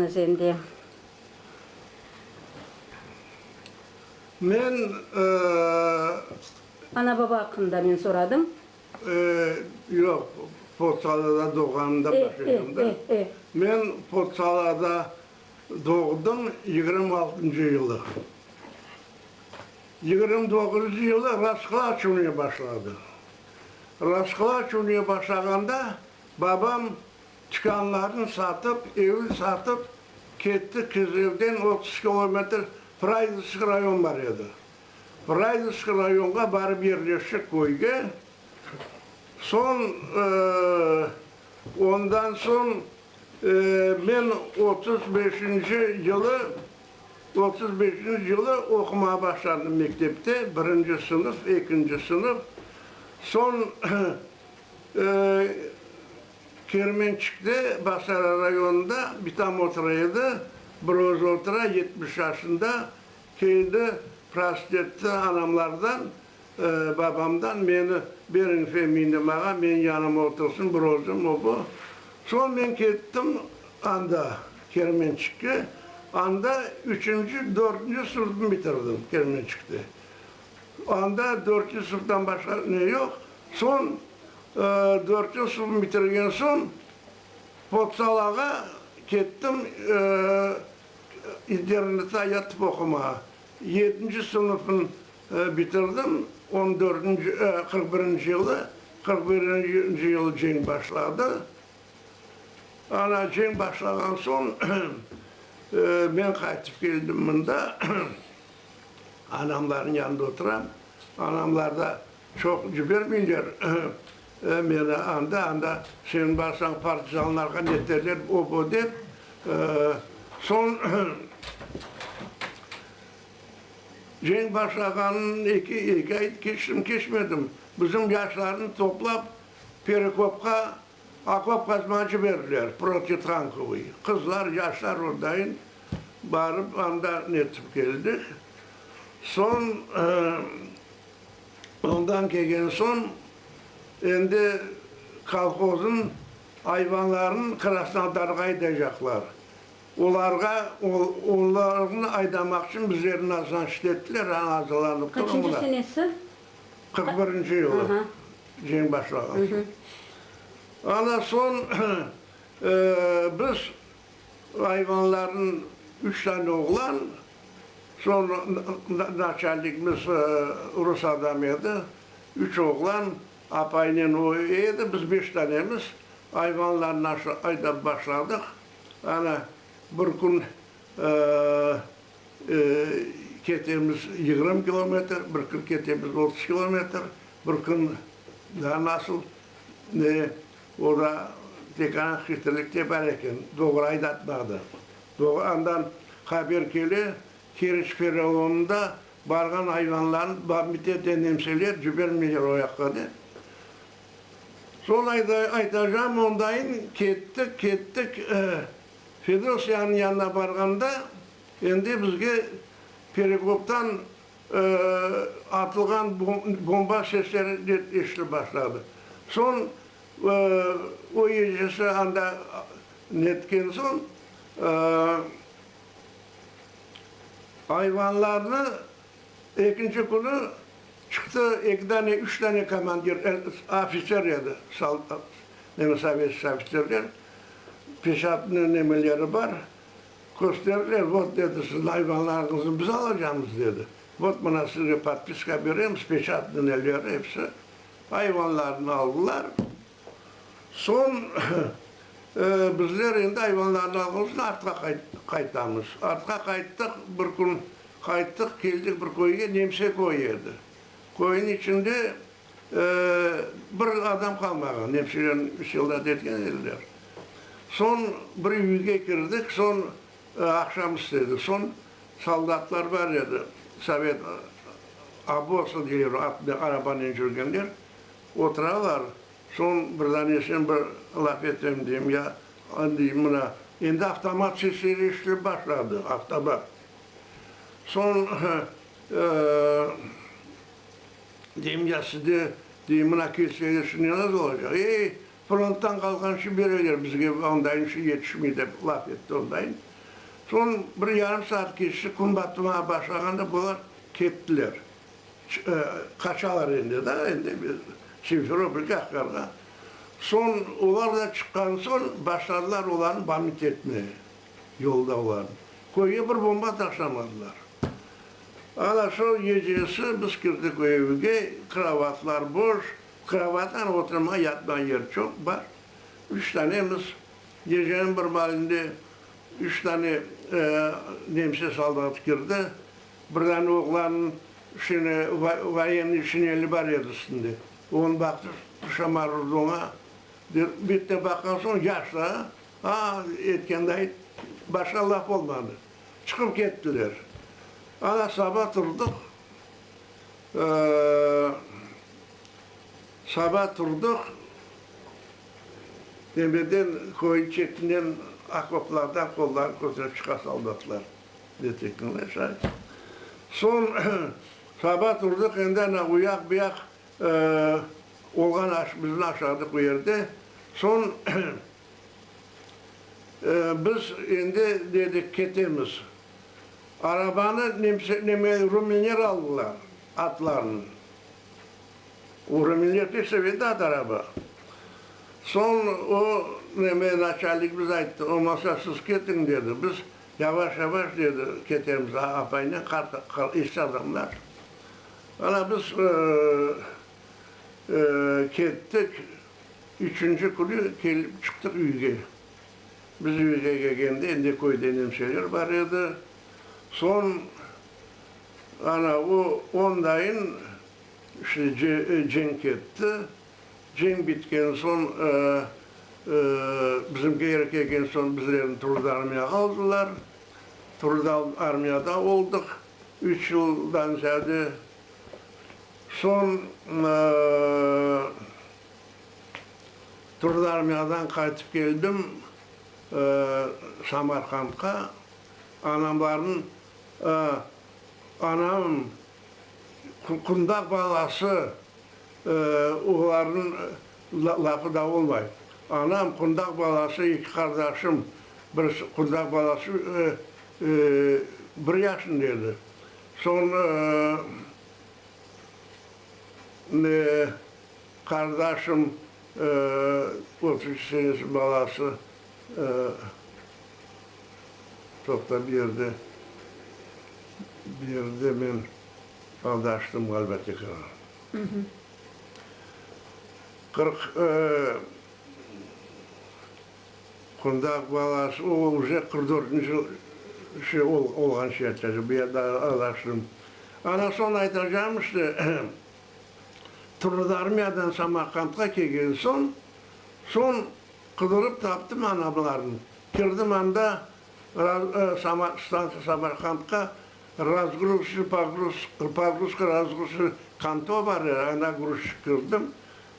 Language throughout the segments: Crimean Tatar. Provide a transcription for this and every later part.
Özende. Men, ııı. Ana-baba aqqında men soradım. Iıı, yoq, Potsalada doğğanımda başlayam da. E, e, e. Men Potsalada doğdım, yigirmi altıncı yılı. Yigirmi doğuzuncu yılı Rasqıla açuvnıya başladı. Rasqıla açuvnıya başlağanda babam Tükânlarnı satıp, evin satıp ketti qız. Evden otuz kilometr Praydovskiy rayon bar edi. Praydovskiy rayonğa barıp yerleştik köyge. Soñ, ondan soñ men otuz beşinci yılı, otuz beşinci yılı oqumağa başladım mektepte, birinci sınıf, ekinci sınıf. Soñ Kermençikte, Bağçalar rayonında bir tam otura edi, bir özü otura, yetmiş yaşında, keldi, prost etti anamlardan, babamdan, meni beriñ Feminemağa, menim yanıma otursın, bir özüm, o-bu. Soñ men kettim anda, Kermençikke, anda üçünci, dörtünci sınıfnı bitirdim Kermençikte. Anda dörtünci sınıftan başqa ne yoq. Soñ Dörtünci sınıfnı bitirgen soñ potsalağa kettim internette yatıp oqumağa. Yedinci sınıfnı bitirdim, on dörtünci, qırq birinci yılı. Qırq birinci yılı cenk başladı. Ana, cenk başlağan soñ men qaytıp keldim mında. Anamlarnıñ yanında oturam. Anamlarda Çoq cibermeyler meni anda, anda sen barsañ partizanlarğa ne derler, o, bu dep. Soñ ceñ başlağanıñ eki, eki ay keçtim, keçmedim, bizim yaşlarnı toplap Perekopqa okop qazmağa ciberdiler, protitankovıy. Qızlar, yaşlar ordayın barıp anda netip keldik. Soñ Ondan kelgen soñ endi kolhozın ayvanlarını Krasnodarğa aydaycaqlar. Olarğa, onlarnı aydamaq içün bizlerni nazlançlı ettiler, aña azırlanıp turıñlar. Qaçıncı senesi? Qırq birinci yılı, ceñ başlağan soñ. Ana soñ biz ayvanlarnı, üç tane oğlan, Soñra naçalnikmiz rus adamı edi. Üç oğlan, apayınen o edi, biz beş danemiz. Ayvanlarnı aşağı aydap başladıq. Ana, bir kün ketemiz yigirmi kilometr, bir kün ketemiz otuz kilometr, bir kün daa nasıl, ne, o da tek ana hitrlikte bar eken, doğru aydatmadı. Doğandan haber kele, Keriç pereonında barğan ayvanlarnı bamite de nemseler cibermeyler oyaqqa de. Sol ayda aytacağım ondayın, kettik, kettik, Fedosiyanıñ yanına barğanda, endi bizge perekoptan atılğan bomba sesleri de eşitilip başladı. Soñ o ecesi anda Netken soñ, ayvanlarnı ekinci künü çıqtı, eki dane, üç dane komandir, ofiser edi, yani sovetskiy ofiserler, peşatnıy nemeleri bar, kösterdiler, vot, dedi, sizni ayvanlarıñıznı biz alacamız, dedi, vot, mına sizge podpiska beremiz, peşatnıy neleri, hepsi, ayvanlarnı aldılar. Soñ bizler endi ayvanlarnı alğan soñ artqa qaytamız. Artqa qayttıq, bir kün qayttıq, keldik bir köyge, Nemse köyü edi. Köyniñ içinde bir adam qalmağan, nemseler soldat etken ediler. Soñ bir üyge kirdik, soñ aqşam istedi, soñ soldatlar bar edi, sovet, oboz, deyiver, arabanen yürgenler. Oturalar, soñ bir dane sen bir laf etseñ deyim, ya deyim, mına endi avtomat sesleri eşitilip başladı, avtomat. Soñ deyim, ya sizde deyim, mına kelseler şimdi ne nazal olacaq, ey, fronttan qalğanşı bereler bizge, ondayınşı yetişmey, dep laf etti ondayın. Soñ bir yarım saat keçti, kün batmağa başlağanda bular kettiler. Qaçalar endi da, endi Simferopol, Qahqarğa. Soñ olar da çıqqan soñ, başladılar olarnı bamit etmege, yolda olarnı. Köyge bir bomba taşlamadılar. Ana şu gecesi biz kirdik o evge, krovatlar boş, krovattan oturmağa, yatmağa yer çoq, bar. Üç tanemiz, geceniñ bir malinde üç tane nemse soldatı kirdi, Bir dane oğlanıñ şene voyennıy şineli bar edi üstünde. Onı baqtı, Şamal urdı oña. Bitta baqqan soñ, yaşlı, a? A, etkende ayt, başqa laf olmadı. Çıqıp kettiler. Ana saba turdıq, saba turdıq, nemeden, köyniñ çetinden, okoplardan qollarını köterip çıqa soldatlar. Soñ saba turdıq, endi ana uyaq-buyaq olğan bizni aşağıdıq bu yerde. Soñ biz endi dedik, ketemiz. Arabanı rumenler aldılar, atlarnı. O rumenler pek severdi at, araba. Soñ o naçalnikimiz ayttı, olmasa siz ketiñ, dedi. Biz. Yavaş-yavaş, dedi, ketemiz, apaynen qart, esli adamlar. Ana biz kettik. Üçünci künü kelip çıqtıq üyge. Biz üyge kelgende endi köyde nemseler bar edi. Soñ ana o, ondayın işte cenk etti. Cenk bitken soñ, bizim geri kelgen soñ bizlerni Trud armiyağa aldılar. Trud armiyada oldıq üç yıldan ziyade. Soñ Trud armiyadan qaytıp keldim Samarqandqa. Anamlarnıñ, anam qundaq balası. Oğlanıñ lafı da olmay. Anam, qundaq balası, eki qardaşım, bir qundaq balası bir yaşında edi. Soñ qardaşım, otuz üç senesi balası, toqta, bir yerde, bir yerde men. Anda açtım ğaliba tekrar. Qırq qundaq balası o uje qırq dörtünci şey olğanca etecek bu yerde anda açtım. Ana soñ aytacağım işte Turnıda armiyadan Samarqandqa kelgen soñ soñ qıdırıp taptım anamlarnı kirdim anda Stantsiya Samarqandqa razgruzici pogruska razgruzici kanto bar edi, ana gruzçik kirdim,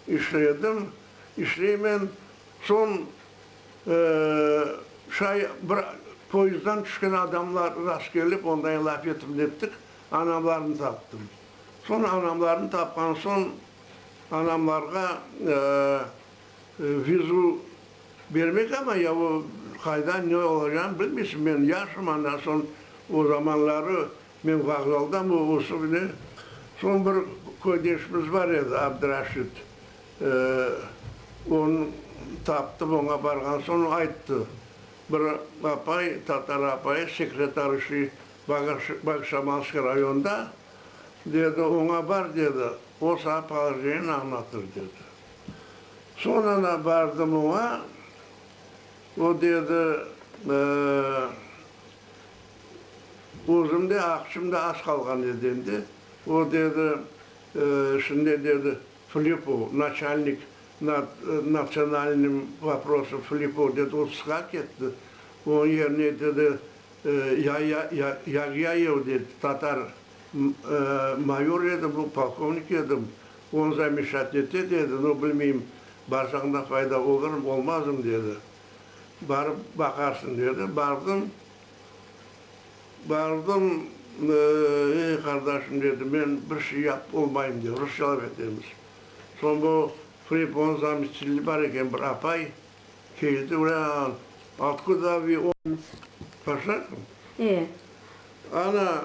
işledim, işleymen, soñ şay bir poezddan tüşken adamlar rast kelip, ondan laf etip nettik, anamlarnı taptım. Soñ anamlarnı tapqan soñ anamlarğa Vizu bermek ama ya o qayda ne olacağını bilmeysiñ. Men yaşım, ondan soñ o zamanları men vokzaldam o osuv ne. Soñ bir köydeşimiz bar edi, Abdraşit. Onı taptım, oña barğan soñ ayttı, bir apay, tatar apayı sekretar işley Bogşamalskiy rayonda, dedi, oña bar, dedi, o saña polojenieni añlatır, dedi. Soñana bardım oña, o dedi, özüm de aqçımda az qalğan edi endi, o dedi, şimdi dedi, Flipov, naçalnik nad natsionalnıym voprosov Flipov dedi, o çıqa ketti, onıñ yerine dedi, Yaya Yagyayev dedi, tatar mayor edi, bu polkovnik edim, Onu da meşat ete, dedi. No, bilmeyim, barsaqnda fayda olurım, olmazım, dedi. Barıp baqarsıñ, dedi. Bardım. Bardım, ey, qardaşım, dedi, men bir şey yapıp olmayım, dedi. Rusçalap etemiz. Soñ bu Freyponıñ zameçilli bar eken, bir apay, keldi, ulan, otkuda vi o. Başlarım. E. Ana,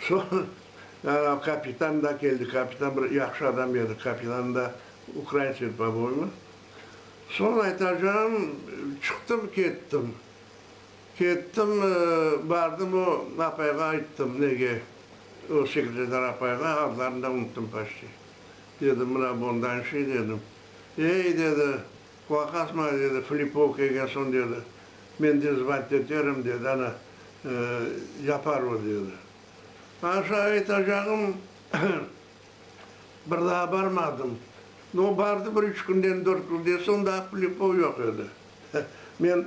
Soñra kapitan da keldi. Kapitan bir yahşı adam edi. Kapitanı da ukrain svetboboymi. Soñ aytacağım, çıqtım, kettim. Kettim, bardım, o apayğa ayttım, nege, o sekreter apayğa, adlarını da unuttum paşti. Dedim, mına bundanşı, dedim. Ey, dedi. Qorqasma, dedi Flipov Kegerson, dedi, men dizbent eterim, dedi, ana, yapar o, dedi. Aşa aytacağım, bir daa barmadım. No, bardı bir üç künden, dört künden soñ, daa Flipov yoq edi. Men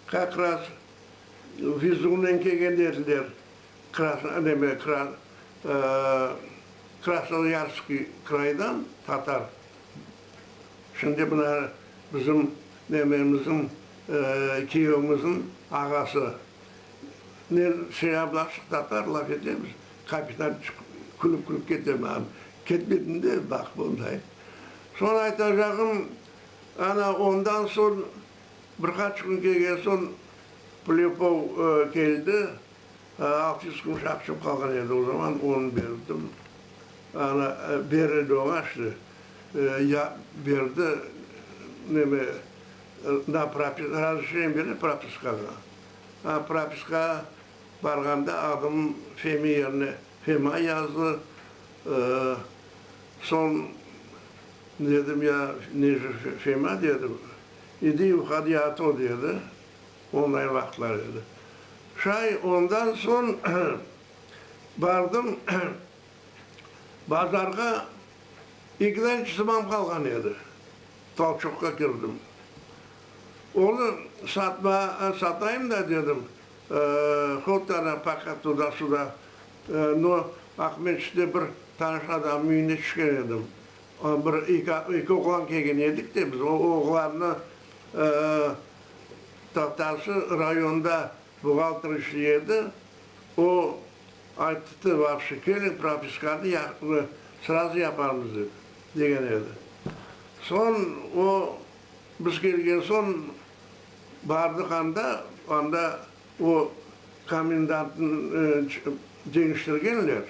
kak raz vizuvnen kelgen ediler, neme, Krasnoyarskıy kraydan, tatar Şimdi mına bizim mememiziñ, kiyevimiziñ ağası nen şey ablashıq tatar laf etemiz, kapitan külip-külip kete mağan. Ketmedin de baqıp onday. Soñ aytacağım, ana ondan soñ bir qaç kün kelgen soñ Plyupov keldi, Altı yüz kuruş aqçam qalğan edi, o zaman onı berdim. Ana, ber edi oña, şimdi, ya berdi, neme, na propi, razreşeniye bere propiskağa. A propiskağa barğanda adım Femi yerine Fema yazdı. Soñ dedim, ya, nece Fema, dedim, idi i vhodi, a to, dedi. Onday vaqıtlar edi. Şay, ondan soñ bardım, bazarğa eki dane çizmam qalğan edi. Tolçoqqa kirdim. Onı satmağa, satayım da dedim, hut ana paqa tuda-suda, no, Aqmescitte bir tanış adamnıñ üyüne tüşken edim. Bir eki oğlan kelgen edik de, biz o oğlannı Taqtaşı rayonında buğalter işley edi, o ayttı, vaqşı keliñ, propiskanı srazu yaparmız, dedi, degen edi. Soñ o, biz kelgen soñ bardıq anda, anda o komendantnı deñiştirgenler.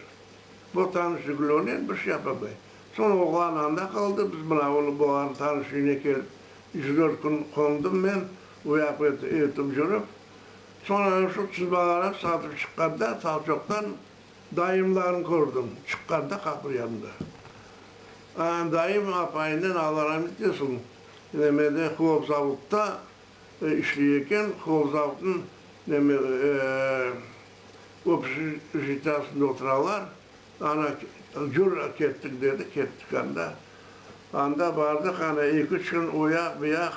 Bu tanış Jiguli'nen bir şey yapamay. Soñ oğlan anda qaldı, biz mına onı boğan tanış üyüne kelip, üç-dört kün qondım men, uyap ötip jürip. Soñ ana şu çizmalarnı satıp çıqqanda Salçoqtan dayımlarnı kördim, çıqqanda qapı yanında. Ana dayım apayınen Alla ramet etsin, nemede, Xlopzavodta işley eken, Xlopzavodnıñ neme, Obşitasında oturalar, ana, cür kettik, dedi, kettik anda. Anda bardıq, ana, eki-üç kün uyaq, buyaq,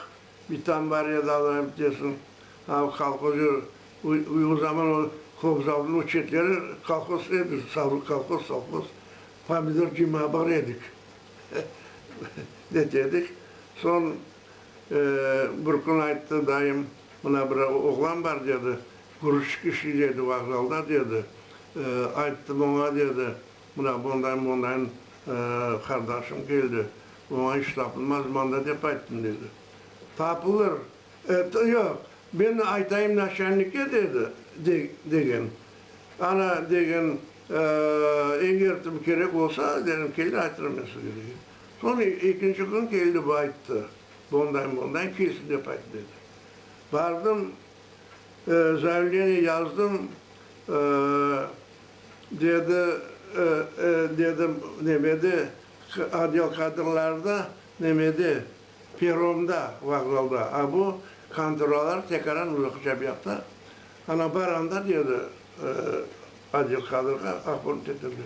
bir tam bar edi, Allayım desin, ana, kolhoz yürü, o zaman o Kobzaldınıñ o çetleri kolhoz edi, kolhoz, sovhoz, pomidor cımağa bar edik, netedik. Soñ bir kün ayttı dayım, mına bir oğlan bar, dedi. Kürüş kişi, dedi, vokzalda, dedi. Ayttım oña, dedi, mına bundayn-bundayn qardaşım keldi, oña iş tapılmaz mında, dep ayttım, dedi. Tapılır, etti, yoq, men aytayım naşennikke, dedi, degen. Ana, degen, egertim kerek olsa, dedim, kelir, aytırım men sizge, degen. Soñ ekinci kün keldi, ayttı, bundayn-bundayn, kelsin, dep ayttı, dedi. Bardım. Zaevleniye yazdım, dedi, dedim, nemede, odel kadrlarda, nemede, peromda, vokzalda, a bu konturalar tekaran uzaq çapyaqta, ana bar anda, dedi, odel kadrğa, ahborni tetirdi.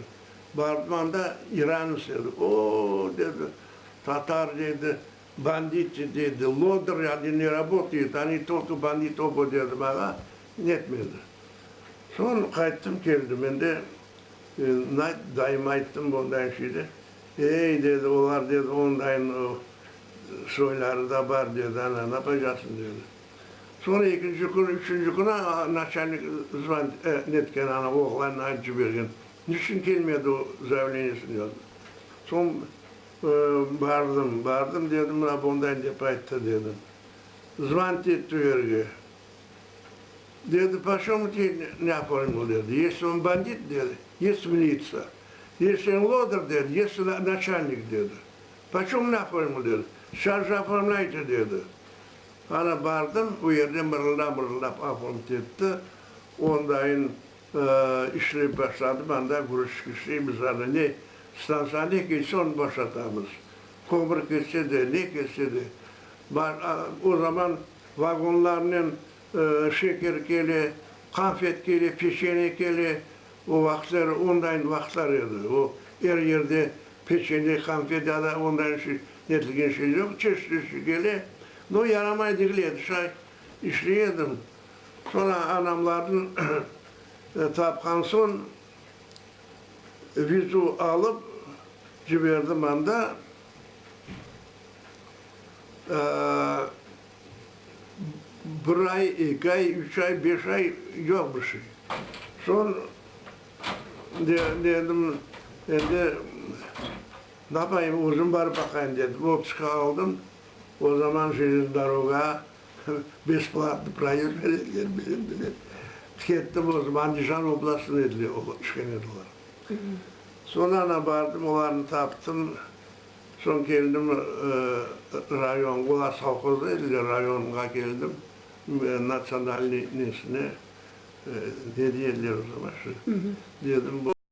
Bardım anda, İranıs edi. O-o-o, dedi, tatar, dedi, Banditi, dedi lodır, yani ne rabotayet, ani tolko bandit obo, dedim ağa, netmedi. Soñ qayttım, keldim, endi nayt, dayıma ayttım bundañ şeyde, ey, dedi, olar, dedi, ondañ soyları da bar, dedi, ana, napacaqsıñ, dedi. Soñ ekinci kün, üçünci kün ağa naçalnik zvan netken, ana, oğlanını aytıp cibergen, niçün kelmedi o, zaveleniyesini yazdı. Soñ. Bardım, bardım, dedim, mına bunday dep ayttı, dedim. Zvant etti verge. Dedi, poşomu te ne oformil, dedi, yesi on bandit, dedi, yesi militsiya, yesi en lodır, dedi, yesi naçalnik, dedi. Poşomu ne oformil, dedi. Şar je oformlayte, dedi. Ana bardım, o yerde mırılda-mırıldap oformit etti, ondayın İşlep başladım, anda guruç çıqışlayımız, ana ne stantsiya ne kelse onı boşatamız, kömür ketse de, ne ketse de. O zaman vagonlarnen şeker kele, qanfet kele, peçene kele, o vaqıtları ondayn vaqıtlar edi, o er yerde peçene, qanfet ya da ondayn şey netilgen şey yoq, çeşit-çeşit kele, no yaramay degil edi, şay işley edim. Soñra anamlarnı tapqan soñ, vizu alıp ciberdim anda. Bir ay, eki ay, üç ay, beş ay, yoq bir şey. Soñ dedim, endi napayım, özüm barıp baqayım dedim, otpuska aldım. O zaman jelezniy doroga Besplatnıy proyekt vereler bilen bile kettim özüm, Andijan oblastında ediler, olar işğal ediler. Soñ ana bardım, olarnı taptım, soñ keldim rayon, olar sovhozda ediler, rayonğa keldim, natsionalnıy nesine, ne deyediler o zaman şu, dedim.